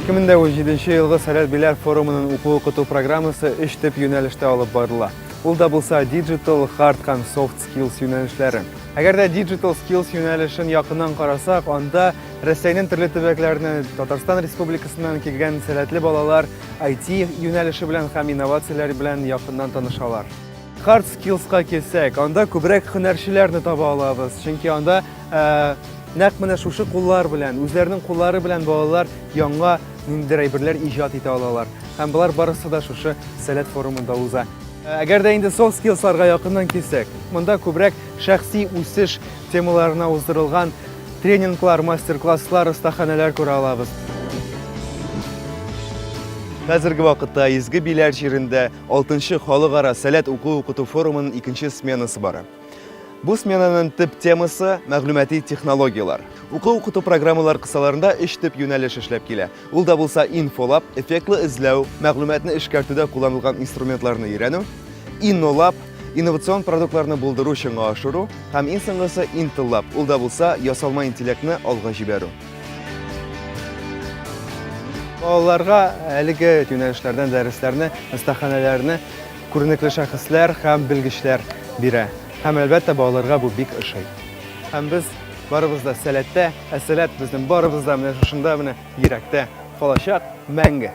Ике мең дә унҗиденче елгы Сәләт Беләр форумының уку укыту программасы өч төп юнәлештә алып барыла. Ул да булса Digital, Hard һәм Soft Skills юнәлешләре. Әгәр дә Digital Skills юнәлешен якыннан карасак, анда Рәсәйнең төрле төбәкләренә Татарстан Республикасыннан килгән сәләтле балалар IT юнәлеше белән һәм инновацияләр белән якыннан танышалар. Hard Skills-ка килсәк, анда күбрәк һөнәрчеләрне таба алабыз, чөнки анда нәкъ менә шушы куллар белән, үзләренең куллары белән балалар яңа ниндидер әйберләр иҗат итә алалар. Һәм болар барысы да шушы Сәләт форумында уза. Әгәр дә инде Soft Skills-ларга якыннан килсәк, монда күбрәк шәхси үсеш темаларына уздырылган тренинглар, мастер-класслар, остаханәләр күрә алабыз. Хәзерге вакытта Изге Биләр җирендә 6-нчы халыкара сәләт уку-укыту форумының икенче сменасы бара. Бу сменаның төп темасы мәгълүмати технологияләр. Уку-укыту программалар кысаларында өч төп юнәлеш эшләп килә. Ул да булса инфолаб, эффектлы эзләү, мәгълүматны эшкәртүдә кулланылган инструментларны өйрәнү, иннолаб, инновацион продуктларны булдыру, чынга ашыру һәм иң соңгысы интеллаб, ул да булса ясалма интеллектны алга җибәрү. Балаларга әлеге юнәлешләрдән дәресләрне, остаханәләрне күренекле шәхесләр һәм белгечләр бирә. Һәм, әлбәттә, балаларга бу бик ошый. Һәм без Барыбыз да сәләттә, ә сәләт безнең барыбыз да менә шушында менә йөрәктә калачак мәңге.